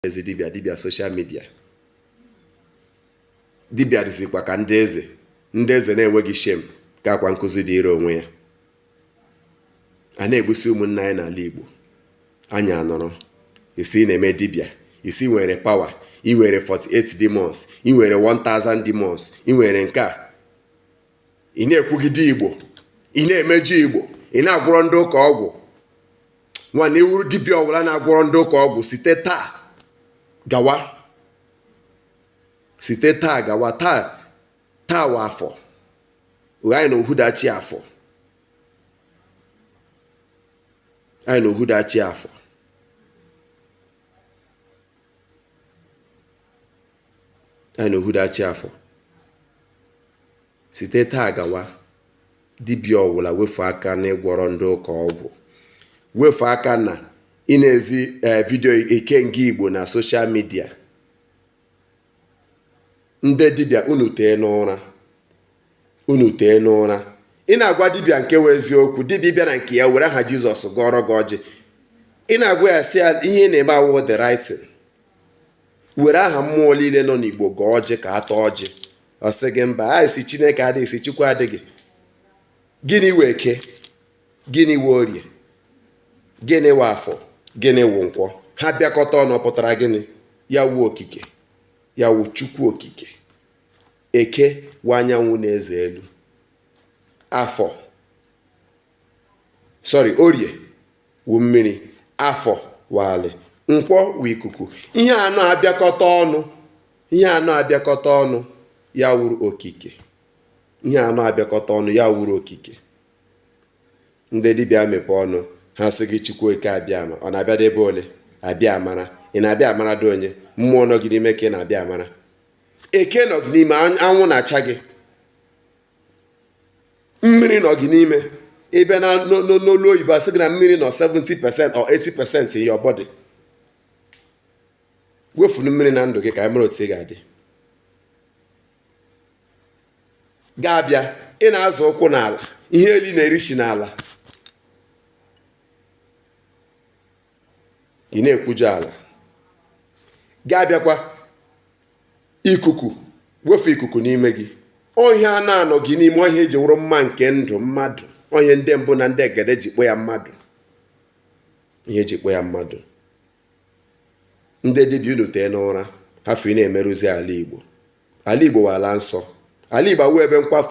ezi dibịa dibịa social media dibịa dịzikwa ka ndị eze ndị eze na-enweghị shame ka akwa nkụzi dịịrị onwe ya a na-egbusi ụmụnna anyị n'ala Igbo anyị anọrọ ị sị na-eme dibịa ị sị nwere power ị nwere 48 demons ị nwere 1000 demons ị nwere nke a ị na-ekwugide Igbo ị na-emejọ Igbo ị na-agwọrọ ndị ụka ọgwụ nwanna ị wụrụ dibịa ọwụla na-agwọrọ ndị ụka ọgwụ site taa gawa site taa gawa taa wụ afọ anyị na ohudachi afọ anyị na ohudachi afọ anyị na ohudachi afọ Site taa gawa, dibịa ọwụla wefu aka n'ịgwọrọ ndị ụka ọgwụ. Wefu aka na ị na-ezi ee eh, video ikenga Igbo na social media. Ndị dibịa unu tee n'ụra. Unu tee n'ụra. Ị na-agwa dibịa nke wụ eziokwu, dibịa bịa na nke ya were aha Jizọs gọọrọ gị ọjị. Ị na-agwa ya sị ya ihe ị na-eme awụ the right were aha mmụọ niile nọ n'Igbo gọọ ọjị ka a taa ọjị. ọ sị gị mba a sị chineke adịghị sị chukwu adịghị gịnị wụ eke gịnị wụ orie gịnị wụ afọ gịnị wụ nkwọ ha bịakọta ọnụ pụtara gịnị ya wụ okike ya wụ chukwu okike eke wụ anyanwụ na eze elu afọ sorry orie wụ mmiri afọ wụ alị nkwọ wụ ikuku ihe anọ abịakọta ọnụ ihe anọ abịakọta ọnụ ya wụrụ okike ihe anọ abịakọta ọnụ ya wụrụ okike ndị dibịa mepe ọnụ ha sị gị chukwu eke abịama ọ na-abịade ebe ole abịa amara ị na-abịa amara dị onye mmụọ nọ gị n'ime ka ị na-abịa amara eke nọ gị n'ime anwụ na-acha gị mmiri nọ gị n'ime ị bịa n'olu oyibo a sị gị na mmiri nọ 70 percent or 80 percent in your body wefunu mmiri na ndụ gị ka anyị mara otu ị ga-adị gị abịa ị na-azọ ụkwụ n'ala ihe ile ị na-eri shi n'ala ị na-ekwujọ ala gị abịakwa ikuku wefu ikuku n'ime gị ọ ihe anọ a nọ gị n'ime ọ ihe e ji wụrụ mma nke ndụ mmadụ ọ ihe ndị mbụ na ndị egede ji kpọ ya mmadụ ihe e ji kpọ ya mmadụ ndị dibịa unu tee n'ụra hafụ ị na-emerụzi ala igbo ala igbo wụ ala nsọ ala igbo awụ ebe nkwafu